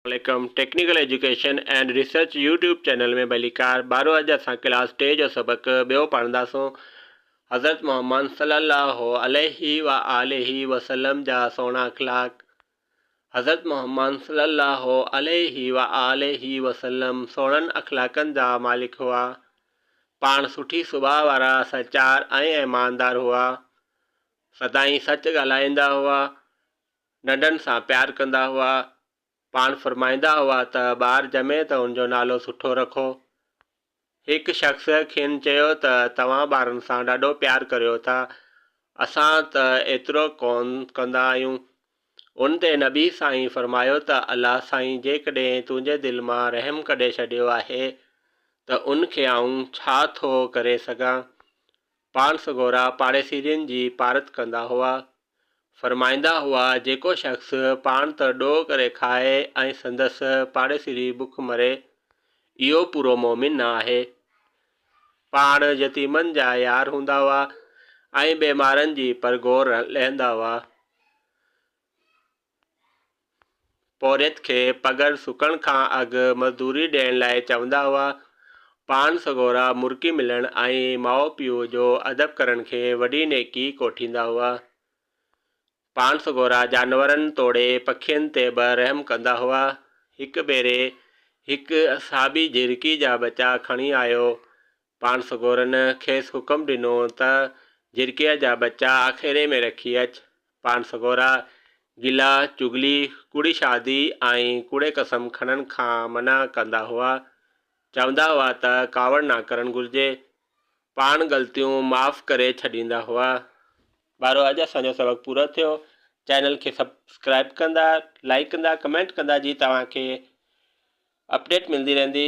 عليڪم technical education and research YouTube channel ۾ ڀليڪار ٻارو اڄ اسان ڪلاس ٽي جو سبق ٻيو پڙهنداسون حضرت محمد صلي الله عليه و آله وسلم جا سهڻا اخلاق حضرت محمد صلي الله عليه و آله وسلم سهڻن اخلاقن جا مالڪ هئا پاڻ سٺي سڀاء وارا سچار ۽ ايماندار هئا سدائين سچ ڳالهائيندا هئا ننڍن سان پيار ڪندا هئا. پاڻ فرمائيندا هئا ته ٻار ڄمي ته ان جو نالو سٺو رکو. هڪ شخص کين چيو ته توهان ٻارن سان ڏاڍو پيار ڪريو ٿا، اسان ته ايترو ڪونه ڪندا آهيون. ان تي نبي سائين فرمايو ته الله سائين جيڪڏهن تنهنجي دل مان رحم ڪڍي ڇڏيو آهي ته ان کي آئون ڇا ٿو ڪري سگهان. پاڻ سڳورا پاڙيسرين جي پارت ڪندا هئا. فرمائيندا هئا، جيڪو شخص پاڻ ته ڏوهه ڪري کائي ۽ سندس پاڙيسري به بک مري، اهو پورو مؤمن نه آهي. پاڻ يتيمن جا يار هوندا هئا ۽ بيمارن جي پرگهور لهندا هئا. پورهيت کي پگهر سڪڻ کان اڳ مزدوري ڏيڻ لاء چوندا هئا. پاڻ سڳورا مرڪي ملڻ ۽ ماء پيء جو ادب ڪرڻ کي وڏي نيڪي ڪوٺيندا هئا. پاڻ سڳورا جانورن توڙي پکين تي به رحم ڪندا هئا. هڪ ڀيري هڪ صحابي جهرڪي جا ٻچا کڻي آيو. پاڻ سڳورن کيس حڪم ڏنو ته جرڪيء جا ٻچا آکيري ۾ رکي اچ. پاڻ سڳورا گلا، چغلي، ڪوڙي شادي ۽ ڪوڙي قسم کڻڻ کان منع ڪندا هئا. چوندا هئا ته ڪاوڙ نه ڪرڻ گهرجي. پاڻ غلطيون معاف ڪري ڇڏيندا هئا. ٻارو اڄ اسان جو سبق پورو ٿيو. چينل کي سبسڪرائيب ڪندا، لائيڪ ڪندا، ڪمينٽ ڪندا جي توهان کي اپڊيٽ ملندي رهندي.